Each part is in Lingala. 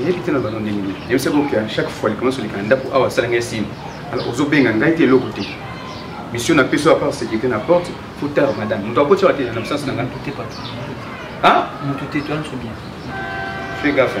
nayebi te na bano ndenge nini nayebi saki oke chaque fois likambo nyonso likana ndako awa asala ngai signe alors ozobenga ngai te eloko te mission na peso apart sécurité na porte fo tard madame moto akoti awa te na absence na ngai moto te toyana so bien fais gaffe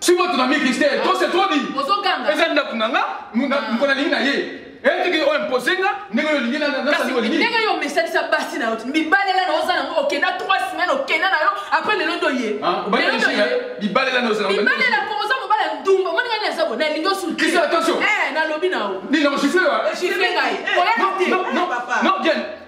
siko tunami kristel to se trop dit eza ndako na nga mpo nalingi na ye etiki oyo impose nga ndenge oyo olingi nasali olingi ndenge yo omesanisa basi na yo bibalela na oza nango okenda 3 semaine okenda na yo après lelo ndo ye bibalela na oza bibalela ko oza mobala ndumba omoni ngai naza bo nalingi osulkisi attention nalobi na yo nini nakosifle wa sifle ngai oya te non bien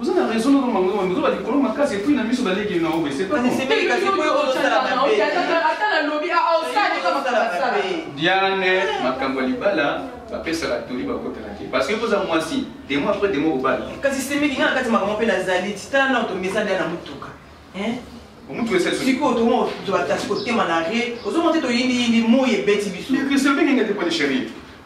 Oza na raison na mama ngoma mizo ba likolo makasi et puis na miso ba leki na obe c'est pas bon. Semeli kasi po yo ozo sala ba pe. Ata na lobi a ah, au ah, stade ka makala sala. Diane makambo libala ba pesa la toli ba kota na ke parce que poza mwasi demo après demo obala. Kasi semeli nga kati makambo pe na zali titana na to mesa na mutuka. Hein? omutu esesikoyo tomo tozala kasi kotema na re ozomona te toyindiyindi moi ebeti biso ndenge te pone chérie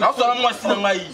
nasala mwasi na ngai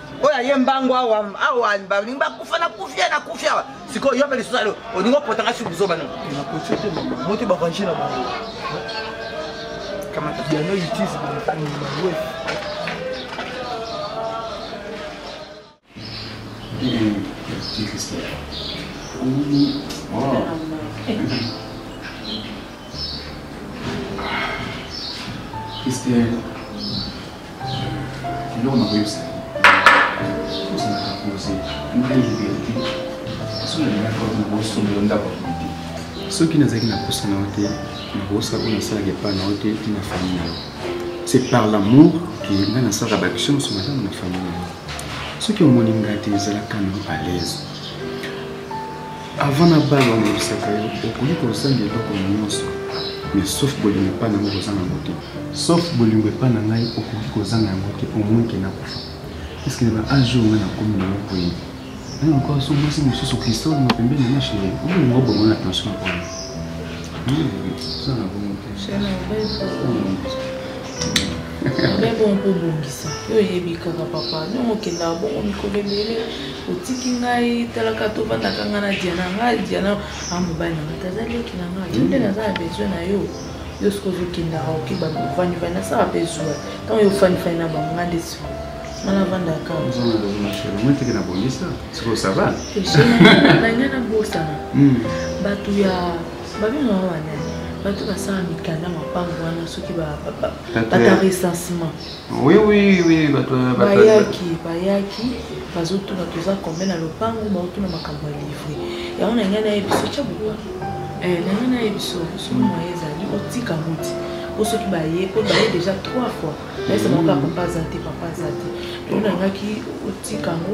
oyo aye mbangu awa awa balingi bakufa na kufi ye na kufi awa sikoyo yo mpe lisusu alo olingi opotanga si buzoba na moto barange na bango kamata piano itise banwe Christian. eloko na koyebisa ozala kapose ndenge verite soki nalingaki bato na bosombelo ndako ya komite soki nazalaki na posa na yo te nakosa oyo nasalaka epai na yo te ti na famille na yo c'est par l'amour ke nga nasalaka baction mosusu malamu na famille na yo soki omoni ngai te ezalaka na yo à l'aise avant na bana olobisaka yo okoki kozanga eloko nyonso mais sauf bolingo epai na yango kozanga yango te sauf bolingo epai na ngai okoki kozanga yango te omoinke nakufa eske na baage oyo ngai nakomi nango boye nani encore so mwasi mosusu kristole na pembeni na chéri obolingo bongo na tension oyo ozanga bongo te mais bon mpo obongisa yo oyebi kaka papa ndongo okendaka bongo mikolo ebele otiki ngai talaka tovandaka ngai na diana ngai diana a mobali na ngai taza leki na ngai yo nde naza na besoin na yo yo soki ozokendaka oke bavandivani nasala mpe zuwa ntango yo ofanifani na bango ngai nde siko nga navandaka moteke na bongisa siko sava nangai nabosana bato ya babenga yango banani bato basala mikanda mapango wana soki bata recensement bayaki bayaki bazotuna toza kombe na lopango baotuna makambo ya livre yango na ngai naye biso tya boba eh, na ngai naye biso soki moye ezali otika moti po soki baye po baye déjà trois fois nayesabango kaka papa aza te papa aza te tolingaki otika yango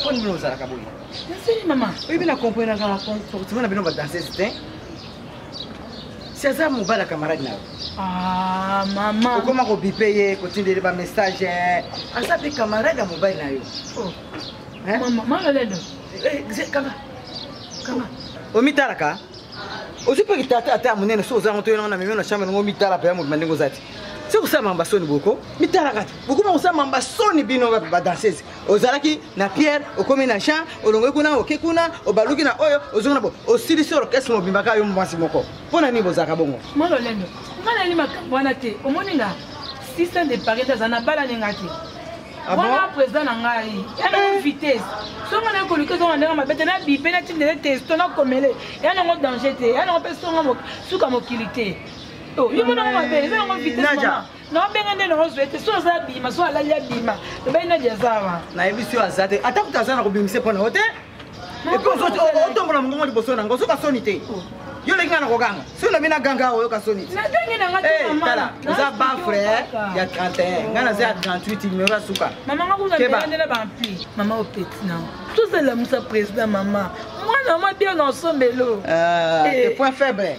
mpo nini ozalaka boye naseli mama oyebi na comprena kaka comportement na bino badanseuse te si aza mobala camarade na yo ah, mama okoma kobipe ye kotindeli bamessage eh. aza mpe camarade ya mobali na yo oh. eh? mama lolelo eh, kanga kanga omitalaka ozwi mpe kitata ata ya monene soki ozango toyena ngo na meme na chambre nango mitala mpe ya mobima ndenge oza te soki kosala mamba soni boko mitalaka te bokoma kosala mamba soni bino bape badansese ozalaki na pierre okomi na jean olongoi kuna oke kuna obaluki na oyo ozongi na bo osilisi orkestre mobimba kaka yo mwasi moko mpo na nini bozalaka bongo mwa lolendo ngai nayeli makambo wana te omoni nga sista nde pare nde aza na bala ninga te Ah wana président na ngai ya na eh. vitesse songa na ekoluki ezonga ndenge mabe te na bipe na tindele testo na komele ya nango danger te ya nango mpe songa suka mokili te oh, yo monango mabe eza yango vitesse naobenga nde naozwa ete so aza abima so alali abima lobali nadi aza wa nayebisi yo aza te ata kuta aza na kobimisa mpo na yo te epi otombola mongongo liboso na ngo ozoka soni te oh. yo olingi nga na koganga soki olobi na ganga oyoka soni tala eh, oza bafre eh, ya 31 ngai naza ya 38 numero ya suka tozalamusa président mama mwana mwa bien na osombelo eh. point faible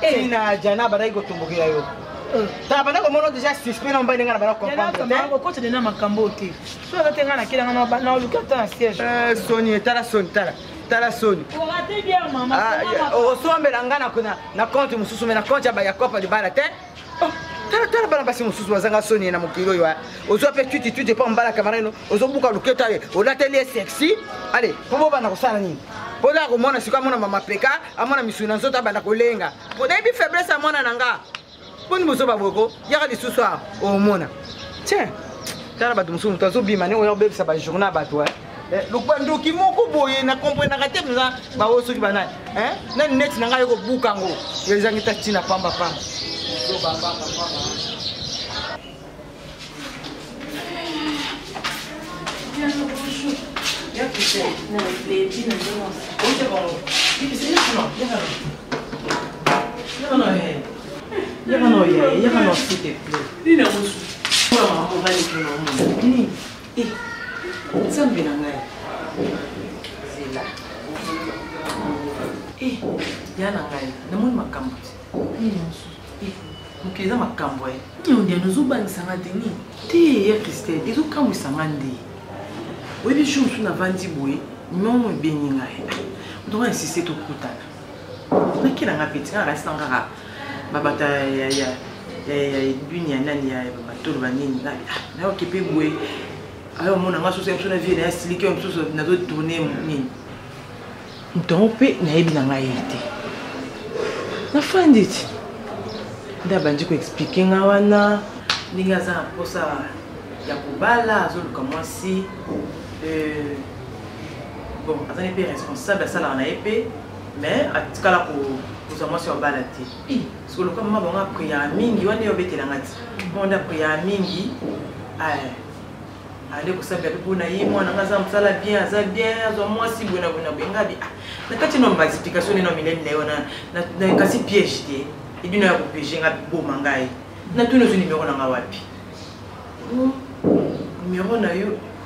tina eh. jana abandaki kotumbukela yo eh. tala banda komona deja suspect na mobali ndenge na banda comprendreokota nde na makambo oyo te so aza te ngai nakela ngai naoluki ata na siège eh, soni etala soni tala tala soni osombela ah, ngai na compte mosusu me na compte ya copa libala te tala tala bana basi mosusu bazanga soni na mokili oyo eh. ozwa mpe twiti twiti mpo mbala kamara ino ozobuka loketa ye olateli ye sexy ale mpo bobanda kosala nini mpo da komona sikoyo amona mama peka amona misuni na nzoto abanda kolenga mpo nayebi faiblesse ya mwana na nga mpo ni bozoba boko yaka lisusu a omona tiens tala bato mosusu moto azobima ndenge oya kobebisa bajourna ya bato eh. Eh, lokuba ndoki moko boye na komprenaka te mpenza baoyo soki banani eh, nani neti na ngai yo kobuka yango ezangi ta ntina pamba pamba Yaka no ye, yaka no s'il te plaît. Nina musu. Mama mobali kuna mama. Eh, nzambe na ngai zela eh, ya na ngai namoni makambo te eh, mokili eza makambo e niondiana ozobangisa nga te nini te ya christine ezokamwisa nga nde oyebi jour mosusu navandi boye mimo ebeni ngai otonga insiste tokutana naki na nga petit kaka kasi na kaka babata ya ya ya edwini ya nani ya bamatolo banini na ah, okipe boye ayo omona nga soso mosusu na vie na ya siliki oyo mosusu nazo tourne nini ntongo mpe nayebi na ngai ye te nafandi ti nde abandi koexplike nga wana ndenge aza na mposa ya kobala azoluka mwasi euh, bon azali mpe responsable asalaka na ye mpe mais atikala kozwa mwasi wa bala te siko lokola mama bango apriyaka mingi wana ye obetelanga ti mama nde apriyaka mingi ale kosambela mpe mpona ye mwana nga aza mosala bien aza bien azwa mwasi boye na boye na boye ngabi ah, na kati no baexplication nde na mileli na yo na kasi piège te edino ya kopiege nga boma ngai natuni ozwi nimero na nga wapi hmm, nimero na yo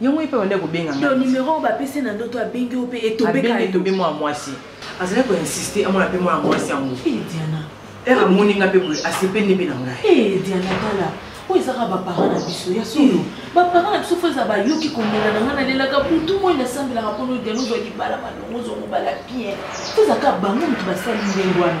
yango epe banda kobenga ngai numero oyo bapesi na ndoto abengi yo mpe etobekaetobe mwana mwasi azali koinsiste amona mpe mwana mwasi yango eh, diana ere amoni ngai mpe boye asepeli mpe na ngai eh, diana tala oyo ezaka baparent na biso ya solo hmm. baparent na biso fo eza bayoki komela na ngai nalelaka butu moi nasambelaka mpo no diana ozwa libala malongo ozwa mobala bien fo ezaka bango moto basali ndenge wana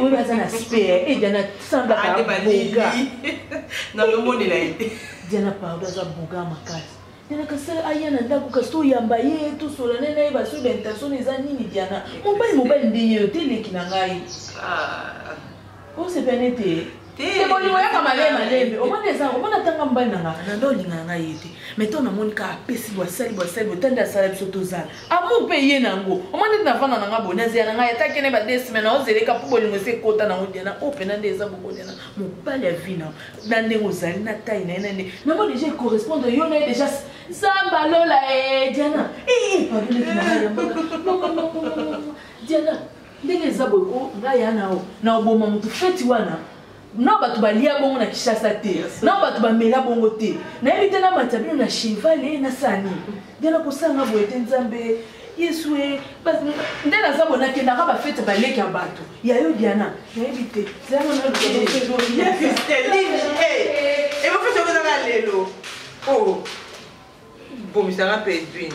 oyo aza na spare e diana semblaka boga nalomonela ye te diana pardon aza boga makasi diana kasi aya na ndako kasi toyamba ye tosola ne na ye basoki baintention eza nini diana mobali mobali nde ye yo te eleki na ngai ah. osepelani te te bolingo yaka malembe malembe omoni eza omoni atanga mobali na nga na nde olingana ngai ye te mai ntango namoni kaka apesi bwasali bwasali botandi asala biso tozala amour mpe ye na yango omoni ete navanda na nga boye nazela na ngai ataki ne badesime na ozeleka mpo bolingo esi ekota na odiana oyo mpena nde eza bokodiana mobali ya vi na na ndenge ozali na tai na ye na nde nango deja ecorrespondre yo na ye deja zamba lola e diana ee pardon ekimaka ya mbaka diana ndenge eza boye ko nga ya na na oboma mutu feti wana na bato balia bongo na kishasa te na bato bamela bongo te nayebi te namata bino na cheval e nasala nini nde nakosanga boye te nzambe yesu e nde naza boye nakendaka bafete baleki ya bato ya yo diana nayebi te ebofetekozaka lelo o bomisanga mpe edwine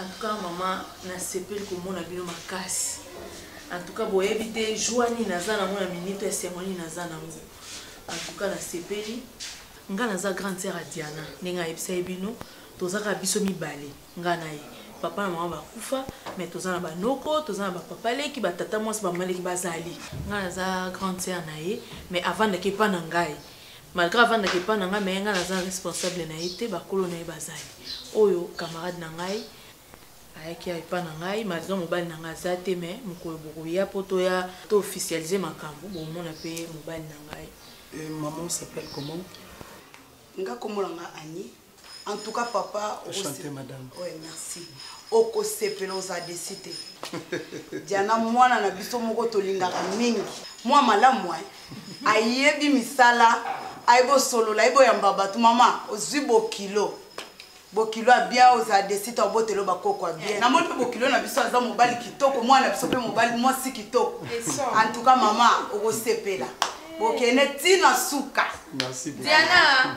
En tout cas maman nasepeli komona bino makasi en tout cas boyebi te joie nini naza nango na minute ya sengo nini naza nango en tout cas nasepeli nga naza grande sœur ya diana ndenge ayebisa ye bino toza kaka biso mibale nga na ye papa na mama bakufa me toza na banoko toza na bapapa leki batata mwasi bamama leki bazali nga naza grande sœur na ye mais avandaki epa na ngai malgre avandaka epai na ngai me ngai naza responsable na ye te bakolo na ye bazali oyo camarade na ngai ayaki epai na ngai malgre mobali na ngai aza te me mokolo bokoya mpo toya to officialise makambo bomona mpe mobali na ngai euh, maman s'appelle comment nga kombo na ngai annie en tout cas papa chante madame ouais merci okosepela ozala desi te diana mwana na biso moko tolingaka mingi mwa malamu eh. ayebi misala ayebi osolola ayebi oyamba bato mama ozwi bokilo bokilo ya bien ozala desi te obotelo bakoko ya bien namoni mpe bokilo na biso aza mobali kitoko mwana na biso mpe mobali mwasi kitoko en tout cas mama okosepela bokende ntina suka diana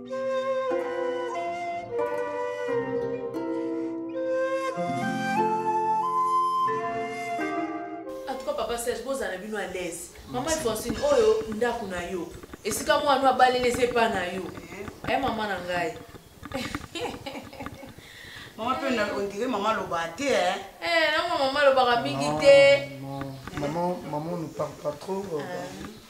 serge bozala bino à l'aise mama francine oyo ndako na yo esika mwana abaleli eza epa na yo aye eh, mama na ngai mama mpe ondire mama alobaka te eh? eh, nango mama alobaka mingi te maman ne parle pas trop euh, ah.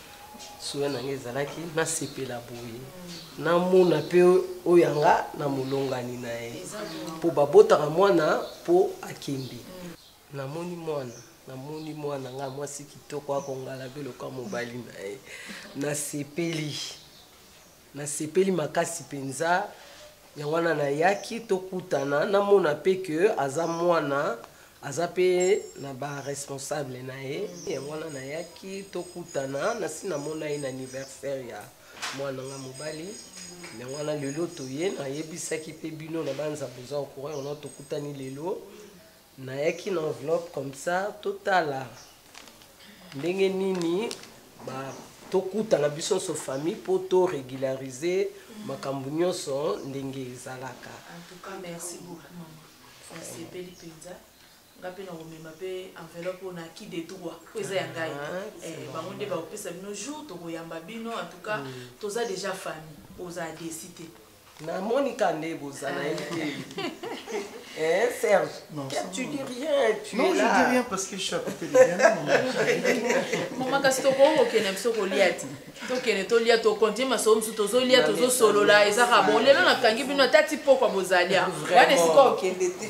suya na ngai ezalaki nasepela boye namona mpe oyo yanga na molongani na ye mpo babotaka mwana mpo akende namoni mwana namoni mwana ngai mwasi kitoko akongala beloka mobali na ye nasepeli Nasepeli makasi penza yango wana nayaki tokutana namona mpe ke aza mwana aza mpe na ba responsable na ye yango wana nayaki tokutana nasi namona ye na anniversaire ya mwana nga mobali yango wana lelo toye nayebisaki mpe bino na banza boza ocoureur no tokutani lelo nayaki na enveloppe comme ça totala ndenge nini ba tokutana biso nso famille mpo to régulariser makambo nyonso ndenge ezalaka en tout cas merci beaucoup mama nasepeli mpenza nga mpe nakomema mpe enveloppe oyo na ki de droit mpo eza ya ngai ah, eh, bango nde bakopesa bino jour tokoyamba bino en tout cas mm. toza déjà famille oza adesi te Na Monica nde boza na été. Eh Serge, non, ça, tu dis rien, tu non, es là. Non, je dis rien parce que je suis à côté de Diana. Maman Kastoko, ok, n'aime pas Goliath. tokende tolia tokontie masolo mosusu tozolia tozosolola eza ka bon lelo nakangi bino ata ti pokwa bozalia wana esika okende te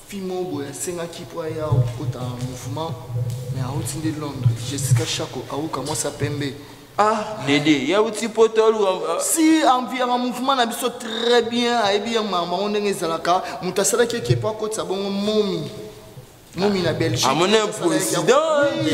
fille moko boye asengaki mpo aya kokota mouvement mais awuti nde londres jessica shako awuka mwasi ya pembe ah dede ye awuti poto aluka ah. si enviraka mouvement na biso très bien ayebi ya makambo yango ndenge ezalaka moto asalaki eke mpo akotisa bongo momi momi na belgique amoni un président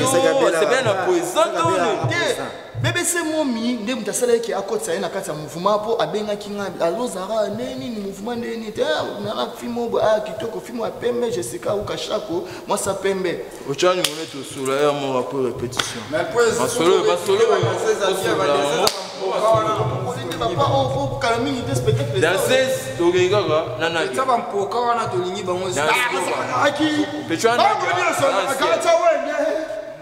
osepela na président to te BBC Momi nde moto asalaki ke akotisa ye na kati ya mouvement mpo abengaki ngai alozara nde nini mouvement nde nini te nana fimo bo aya kitoko fimo ya pembe jessica auka shako mwasa pembe ocani mone tosula ya moko apres répétition masolo masolo danses tokeyi kaka nanampoka wana tolingi bango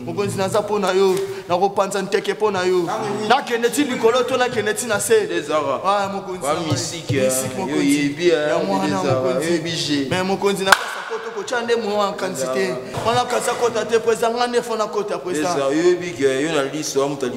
mokonzi naza mpo na yo nakopanza nteke mpo na yo nakende ti likolo to nakende ti na se me mokonzi na kotya nde moyo ya nkanisi te wana kasi akota te president nga nde fona kota president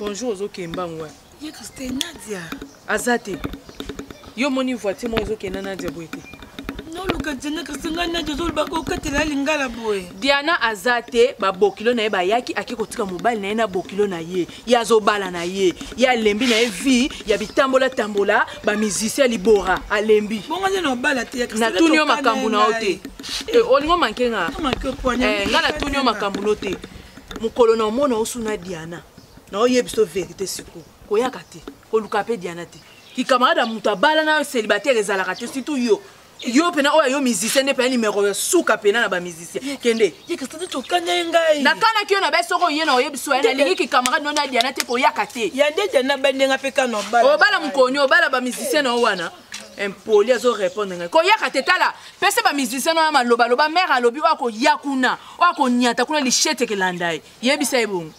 bonjour ozokemba ngwa ye christine nadia aza te yo omoni voiture moko ezokenda na dia boye te noluka diana kasi ngai nadia ozoloba kokatela lingala boye diana aza te babokilo na ye bayaki ake kotika mobali na ye na bokilo na ye ye azobala na ye ye alembi na ye vie ya bitambolatambola bamusicien ya libora alembi natuni yo makambo na yo te eh, olingo manke nga eh, nga natuni yo makambo no te mokolo na omona osuna diana na oyebisa verité sikoyo koyaka te koluka mpe diana te kikamarade ya moto abala nayo célibataire ezalaka te surtout yo yo mpena oyo ayo musicien nde mpena nimero ya suka mpena na bamusicien kende nakanaki yo na bai soko oye na oyebi soya nalingi kikamarade nona diana te koyaka te obala mokoni obala bamusicien na yo wana impoli azorépondre ngai koyaka te tala pesa bamusicien oyo malobaloba mare alobi oyo akoya kuna oyo akonyata kuna lishete kelanda ye yebisa ye bongo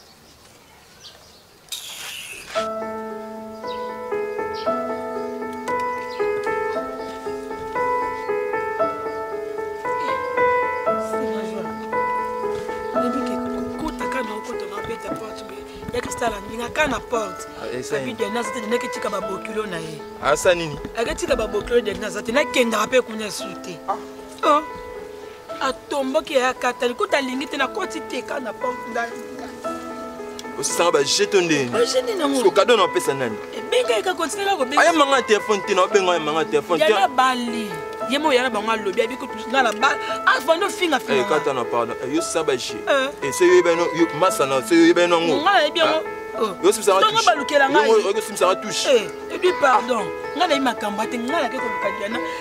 aka na porte ah, abi dena aza te dena aketika babokilo na ye asa ah, nini aketika babokilo dena aza te nakendaka mpe kuna esu te ah. oh. atomboki ya kata likuta alingi te nakoti te ka na osisanga baje to ndeniko kado na opesa nani aya manga telefone te na obenga ya manga telefone te bali ye mo yana bango alobi abi kutusinga na ba afandi ofinga finga kata na pardon yo sisa baje ese yo yebani masa na se yo yebani yango nga nayebi yango yosibisanga balukelanga yosibisanga touche ebi pardon nga nayebi makambo ate nga nake koluka diana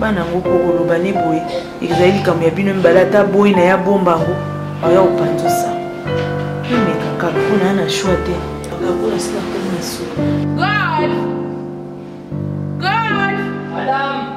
bana yango mpo koloba ne boye ezali likambo ya bino mibale ata boyi na ye abomba yango oya kopanzosa emeka kaka mpo na ya na shwa te akakona sila koma suka God! God! Madame!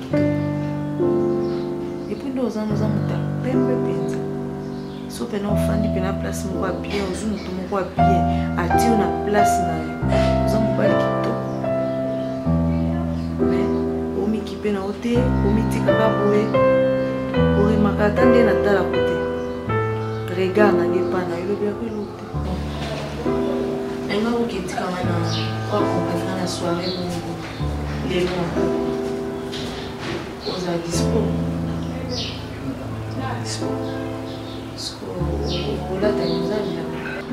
epuis nde oza noza moto ya pembe mpenza so mpena ofandi mpena place moko ya bien ozwi moto moko ya bien atio na place na yo oza mobali kitoko me omikipe na yo te omitikaka boye oremaka ata nde natalako te regard na nge pana elobi yako eloko te enga oketikanga na kwako mpena na soire moko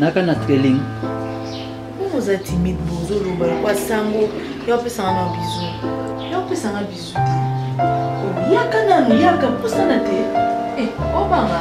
naka na trailing oza timide bozoloba lokwa sango yo apesanga na bizu yo apesanga bizu te oyaka nanu yaka pusana te eh, obanga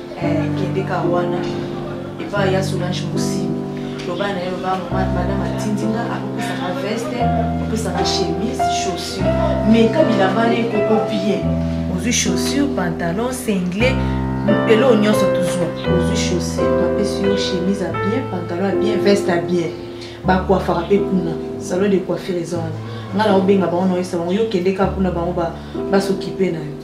Eh, kende ka wana epa ya solange mosimi loba na ye loba mama madame atindi nga akopesaka veste opesaka chemise chaussure meka bilamba na ekoko bien ozwi chaussure pantalon single eloko nyonso tozwa ozwi chaussure bapesi yo chemise ya bien pantalon ya bien veste ya bien bakwafaka mpe kuna salon de coiffure eza wana ngai naobenga bango naoyesa bango yo kende kaka kuna bango basokipe na yo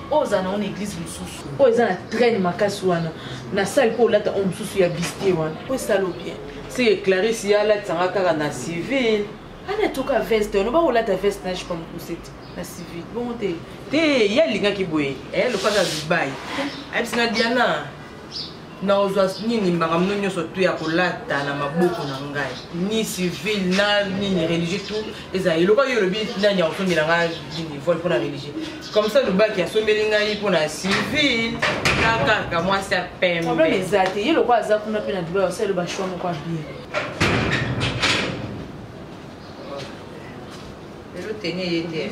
oyo ozala nango na eglise mosusu oyo eza na traine makasi wana na sale mpo olata oyo mosusu ya biste wana oyo esalo bien seke clarisse ye alatisanga kaka na civil ana etoka veste oloba olata veste na jipa mokuse te na civil bongo te te ye alingaki boye eh, lokola na dubai ayebisi na diana na ozwa nini makambo no nyonso tu ya kolata na maboko na ngai ni civil na nini religieux tu ezala eloko yo olobi nani akosombela ngai nini vole mpo na religieux comme ça lobaki asombeli ngai mpo na civil na kaka mwasi ya pembe problème eza te ye lokola aza kuna mpe na dubai osali loba choix moko ya bien lelo teni eye te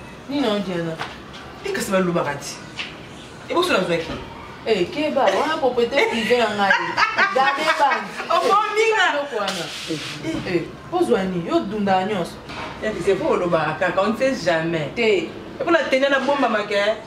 nini na diana te kasi balobaka ti eboso nazwaki eh, keba wana propriété privé ya ngai gabe bangi okominga eloko wana eh, eh, ozwa nini yo dundaka nyonso c'est po olobaka kaka on ne sait jamais te epona tenia na bombamaka